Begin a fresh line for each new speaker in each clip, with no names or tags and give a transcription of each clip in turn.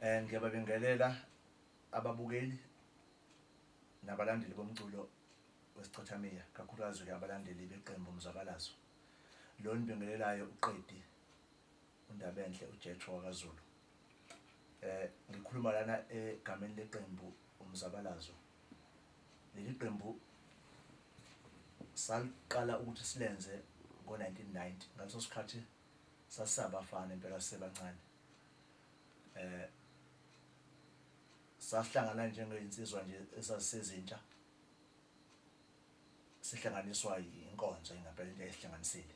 Um ngiyababingelela ababukeli nabalandeli bomculo wesicathamiya, kakhulukazi-ke abalandeli beqembu Umzabalazo. Lo enibingelelayo uQedi uNdabenhle uJethro wakaZulu. Um ngikhuluma lana egameni leqembu Umzabalazo. Leli qembu saliqala ukuthi silenze ngo-nineteen ninety, ngaleso sikhathi sasabafana impela sisebancane eh sasihlangana njengezinsizwa nje esazisezintsha sihlanganiswa inkonzo ingempela into esihlanganisile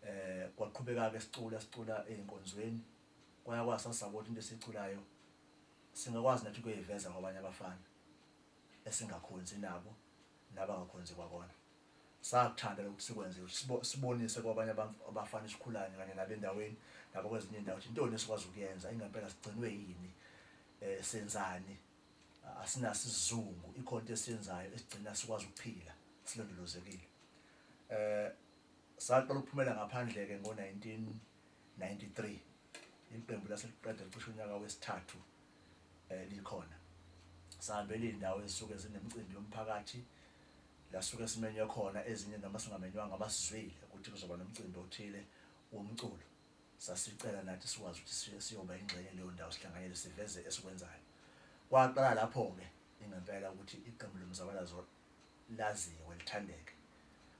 eh kwaqhubeka ke sicula sicula einkonzweni kwaya kwasasabona into esiculayo singakwazi nathi ukuyiveza kwabanye abafana esingakhonzi nabo nabangakhonzi kwakona Sakuthanda lokhu sikwenzile ukuthi sibonise kwabanye abantu abafana esikhulanye kanye nabo endaweni nabakwezinye indawo ukuthi intoni esikwazi ukuyenza ingempela sigcinwe yini eh senzani asinaso isizungu ikhona into esiyenzayo esigcina sikwazi ukuphila silondolozekile eh saqala ukuphumela ngaphandle ke ngo-19 1993 leli qembu lase liqeda licishe unyaka wesithathu eh, likhona sihambela iy'ndawo ezisuke zinemicimbi yomphakathi lasuke simenywe khona ezinye noma singamenywanga basizwile ukuthi kuzoba nomcimbi othile womculo sasicela nathi sikwazi ukuthi siyoba ingxenye leyo ndawo sihlanganyele siveze esikwenzayo kwaqala lapho-ke ingempela ukuthi iqembu lomzabalazo laziwe lithandeke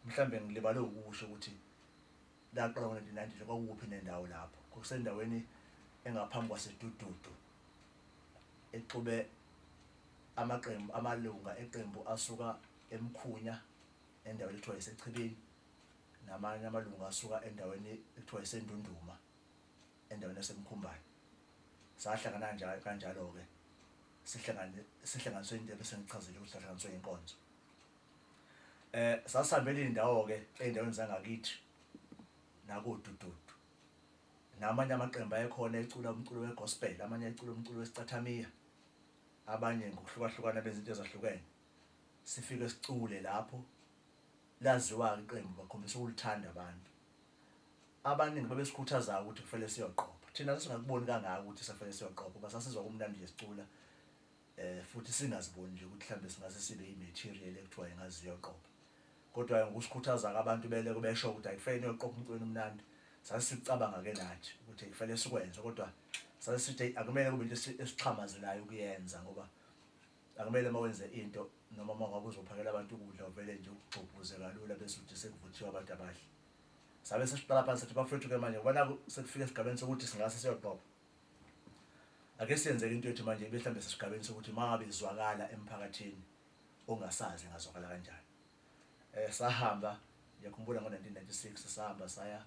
mhlawumbe ngilibale ukusho ukuthi Laqala ngo-1990 nje kwakukuphi nendawo lapho. Kwakusendaweni engaphambi kwaseDududu exube amaqembu amalunga eqembu asuka eMkhunya endaweni ekuthiwa iseChibini namanye amalungu asuka endaweni ekuthiwa iseNdunduma endaweni yaseMkhumbane. Sahlangana njalo kanjalo-ke sihlangane sihlanganiswe into ebesengichazile ukuthi sahlanganiswe inkonzo. Eh sasihambela indawo ke endaweni zangakithi nakodududu. Namanye amaqembu ayekhona ecula umculo wegospel, amanye ecula umculo wesicathamiya. Abanye ngokuhlukahlukana benza into ezahlukene. Sifike sicule lapho laziwa ke iqembu bakhombisa ukulithanda abantu. Abaningi babesikhuthaza ukuthi kufanele siyoqopha. Thina sasingakuboni kangako ukuthi safanele siyoqopha, basasizwa kumnandi nje sicula. eh, futhi singaziboni nje ukuthi mhlawumbe singase sibe imaterial ekuthiwa ingaze iyoqopha kodwa ngokusikhuthaza-ke abantu beleko besho ukuthi ayikufanele niyoqopha umcweni omnandi sase sikucabanga-ke nathi ukuthi kufanele sikwenze kodwa sase sithi akumele kube into esixhamazelayo ukuyenza ngoba akumele uma wenze into noma uma ngabe uzophakela abantu ukudla uvele nje ugxobhuze kalula bese uthi sekuvuthiwe abantu abahle sabe sesiqala phansi sathi bafethu-ke manje kubona sekufika esigabeni sokuthi singase siyoqopha Ake senzeke into ethi manje ibe mhlambe sesigabeni sokuthi mangabe izwakala emphakathini ongasazi ngazwakala kanjani. Eh sahamba ngiyakhumbula ngo-1996 sahamba saya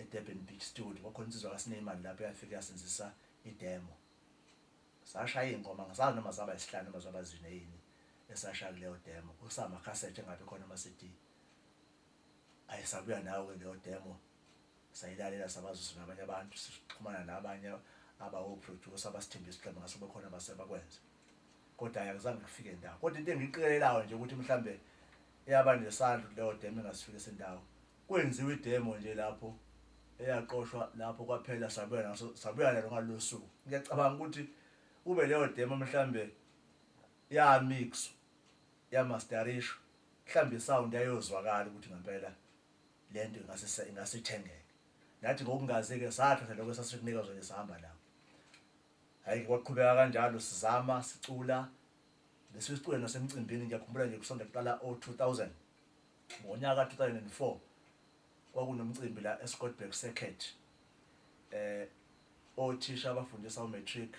eDurban Big Studio kwakhona insizwa kaSineyman lapho yafika yasenzisa idemo. Sashaya ingoma ngisazi noma zaba isihlanu noma zaba zine yini esashaya kuleyo demo. Kusama cassette engabe khona ama CD. ayi sabuya nawo ke leyo demo sayilalela sabazisa nabanye abantu sixhumana nabanye abawoproducer abasithembisa ukuthi ngase bekhona basebakwenze kodwa ayakuzange kufike ndawo kodwa into engiqikelelayo nje ukuthi mhlambe eyaba nesandla leyo demo engasifike sendawo kwenziwe idemo nje lapho eyaqoshwa lapho kwaphela sabuya naso sabuya nalo ngalosuku ngiyacabanga ukuthi ube leyo demo mhlambe ya mix Ya mastarishu mhlambe i sound yayozwakala ukuthi ngampela lento ingase ingase ithengeke. Nathi ngokungazi ke sathatha lokho esasikunika zona sihamba nawo. Hhayi kwaqhubeka kanjalo sizama sicula bese sicula nasemcimbini ngiyakhumbula nje kusanda kuqala o 2000 ngonyaka ka 2004 Kwakunomcimbi la eScottburgh Circuit eh othisha abafundisa uMatric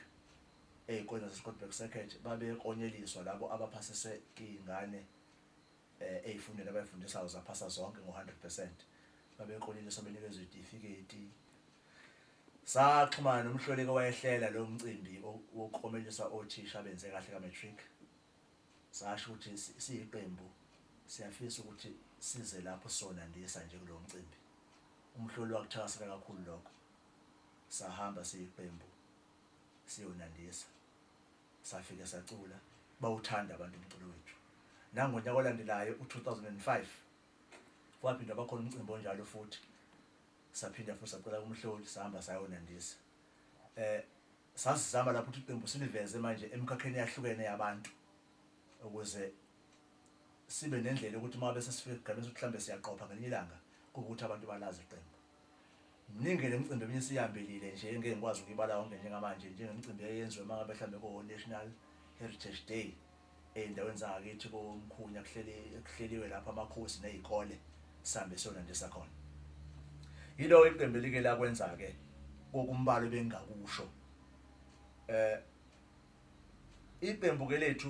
ezikoleni zaseScottburgh Circuit babeklonyeliswa labo abaphasise izingane eh ezifundweni abazifundisayo zaphasa zonke ngo-100 percent. Babeklonyeliswa benikezwa izitifiketi. Saxhumana nomhloleki owayehlela lo mcimbi wokuklomelisa othisha abenze kahle ka-matric. Sasho ukuthi siyiqembu siyafisa ukuthi size lapho sona ndisa nje kulo mcimbi. UMhloli wakuthakasela kakhulu lokho. Sahamba siyiqembu siyonandisa. Safike sacula, bawuthanda abantu umculo wethu. Nangonyaka olandelayo, u-2005, kwaphinda kwakhona umcimbi onjalo futhi. Saphinda futhi sacela kuMhloli, sahamba sayonandisa. Sasizama lapho ukuthi iqembu siliveze manje emikhakheni eyahlukene yabantu ukuze sibe nendlela yokuthi uma bese sifika esigabeni sokuthi mhlawumbe siyaqopha ngelinye ilanga kube ukuthi abantu balazi iqembu. Mningi le micimbi eminye siyihambelile nje engeke ngikwazi ukuyibala yonke njengamanje njengemicimbi eyenziwe uma ngabe mhlawumbe ko-National Heritage Day Ey'ndaweni zangakithi koMkhunya kuhleliwe lapho amakhosi ney'kole sihambe siyona nje sakhona. Yilo iqembu elike lakwenza-ke kokumbala ebengingakusho. Um iqembu-ke lethu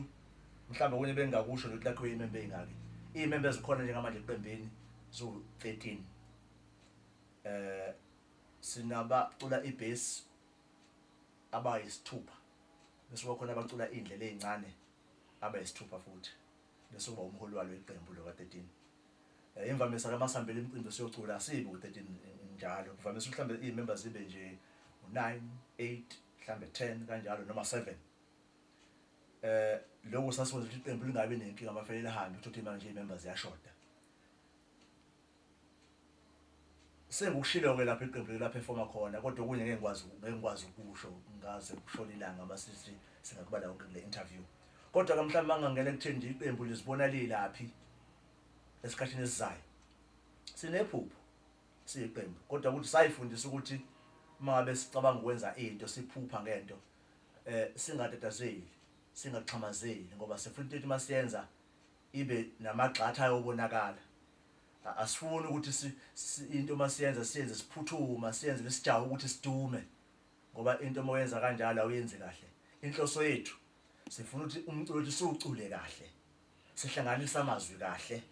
mhlawumbe okunye ebengingakusho nje ukuthi lakhiwe iy'membe ey'ngaki. Iy'membe ezikhona njengamanje eqembini ziwu-thirteen. Um sinabacula ibhesi abayisithupha bese kuba khona abacula iy'ndlela ey'ncane abayisithupha futhi bese kuba umholi walo iqembu lo ka-13 um imvamisa ke masihambela imicimbi siyocula asibi ku-13 njalo kuvamisa ukuthi mhlawumbe iy'memba zibe nje u-nine eight mhlawumbe ten kanjalo noma seven eh lokho sasikwenza ukuthi iqembu lingabi nenkinga mafele lihambe uthothe manje iy'memba ziyashoda Sengikushilo-ke lapho iqembu like laphefoma khona kodwa okunye ngeke ngikwazi ngeke ngikwazi ukusho ngaze kushone ilanga uma sithi singakubala konke kule interview. Kodwa-ke mhlawumbe uma ngingangena ekutheni nje iqembu lizibona lilaphi esikhathini esizayo. Sinephupho siyiqembu kodwa ukuthi sayifundisa ukuthi uma ngabe sicabanga ukwenza into siphupha ngento eh singatatazeli singaxhamazeli ngoba sifuna into ethi masiyenza ibe namagxatha ayobonakala asifuni ukuthi si, si, into uma siyenza siyenze siphuthuma siyenze nesijaho ukuthi sidume ngoba into uma uyenza kanjalo awuyenzi kahle inhloso yethu sifuna ukuthi umculo wethu siwucule kahle sihlanganisa amazwi kahle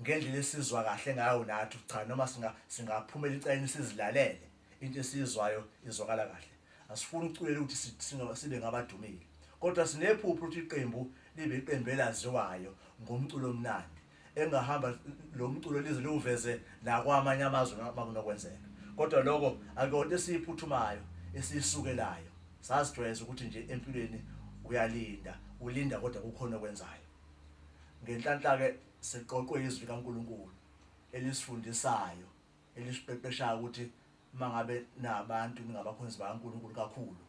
ngendlela esizwa kahle ngayo nathi cha noma singa singaphumela icayini sizilalele Into esiyizwayo izwakala kahle. Asifuni ukuculela ukuthi sibe ngabadumile. Kodwa sinephupho ukuthi iqembu libe iqembu elaziwayo ngomculo omnandi. Engahamba lo mculo lize liwuveze nakwamanye amazwe makunokwenzeka. Kodwa lokho akuyona esiyiphuthumayo, esiyisukelayo. Sazijwayeza ukuthi nje empilweni uyalinda, ulinda kodwa kukhona okwenzayo. Ngenhlanhla-ke siqoqwe izwi likaNkulunkulu elisifundisayo. elisiqeqeshayo ukuthi uma ngabe nabantu ningabakhonzi bakaNkulunkulu kakhulu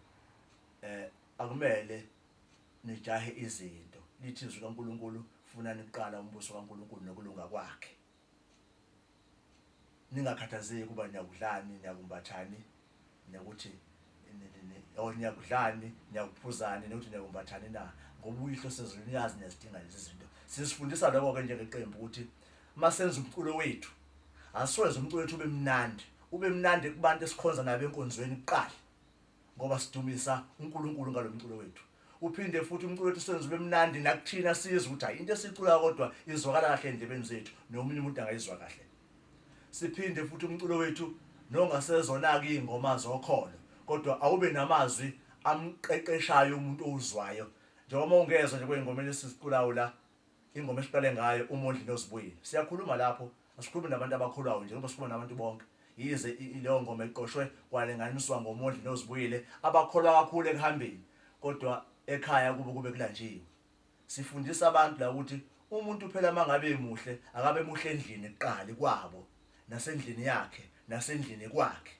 eh akumele nijahe izinto lithi izwi kaNkulunkulu funa niqala umbuso kaNkulunkulu nokulunga kwakhe ningakhathazeki ukuba niyakudlani niyakumbathani Nokuthi or niyakudlani, niyakuphuzani, nokuthi niyakumbathani na. Ngoba uyihlo osezulwini uyazi niyazidinga lezi zinto. Sisifundisa lokho-ke njengeqembu ukuthi uma senza umculo wethu asiwenze umculo wethu ube mnandi ube mnandi kubantu esikhonza nabo enkonzweni kuqala ngoba sidumisa uNkulunkulu ngalomculo wethu uphinde futhi umculo wethu senze ube mnandi nakuthina sizwe ukuthi hayi into esicula kodwa izwakala kahle endlebeni zethu nomunye umuntu angayizwa kahle Siphinde futhi umculo wethu nongasezona-ke iy'ngoma zokholo kodwa awube namazwi amqeqeshayo umuntu owuzwayo njengoba ungezwa nje kwey'ngomeni esiziculayo la ingoma esiqale ngayo umondli nozibuyile siyakhuluma lapho asikhulumi nabantu abakholwayo nje ngoba sikhuluma nabantu bonke yize leyo ngoma eqoshwe kwalinganiswa ngomondli nozibuyile abakholwa kakhulu ekuhambeni kodwa ekhaya kubo kube kulanjiwe Sifundisa abantu la ukuthi umuntu phela mangabe emuhle akabe muhle endlini kuqali kwabo nasendlini yakhe nasendlini kwakhe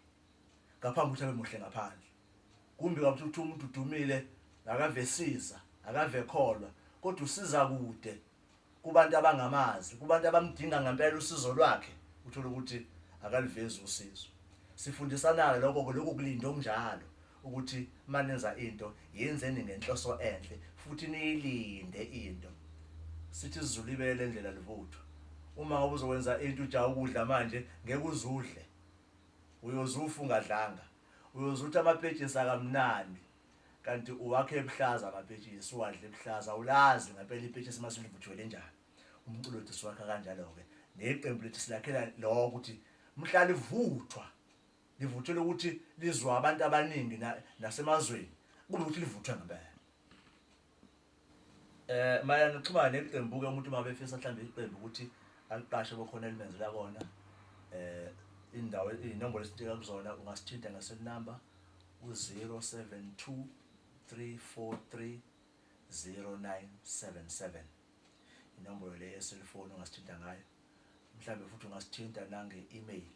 ngaphambi ukuthi abe muhle ngaphandle. Kumbi kabi ukuthi umuntu udumile akave siza akave kholwa kodwa usiza kude kubantu abangamazi kubantu abamdinga ngempela usizo lwakhe uthola ukuthi akalivezi usizo. Sifundisana-ke lokho-ke lokho kulinda okunjalo ukuthi uma nenza into yenzeni ngenhloso enhle futhi niyilinde into sithi isizulu ibele ndlela livuthu uma ngoba uzokwenza into ujaha ukudla manje ngeke uzudle uyozufa ungadlanga uyozutha amapetshisi akamnandi kanti uwakhe ebuhlaza amapetshisi uwadle ebuhlaza ulazi ngempela ipetshisi uma silivuthiwe lenjani umculo wethu siwakha kanjalo-ke neqembu lethu silakhela lokho ukuthi mhla livuthwa Livuthelwe ukuthi lizwa abantu abaningi na, nasemazweni kube ukuthi livuthwe ngempela. Eh mayana nokuxhumana neqembu ke umuntu uma befisa mhlawumbe iqembu ukuthi aliqashe bokhona elimenzela kona eh indawo inombolo esithinta kuzona ungasithinta ngesel number u-072 343 0977 inombolo le yeselfoni ungasithinta ngayo mhlawumbe futhi ungasithinta nange-email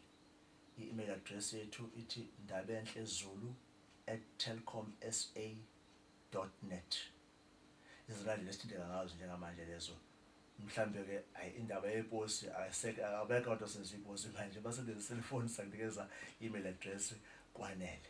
I-email address yethu ithi ndabenhlezulu at telkomsa dot net. Izona nje lesithinteka ngazo njengamanje lezo. Mhlampe ke ay indaba yeposi ayiseke abekho abantu asenza iposi manje basebenzisa iselfoni sakunikeza email address kwanele.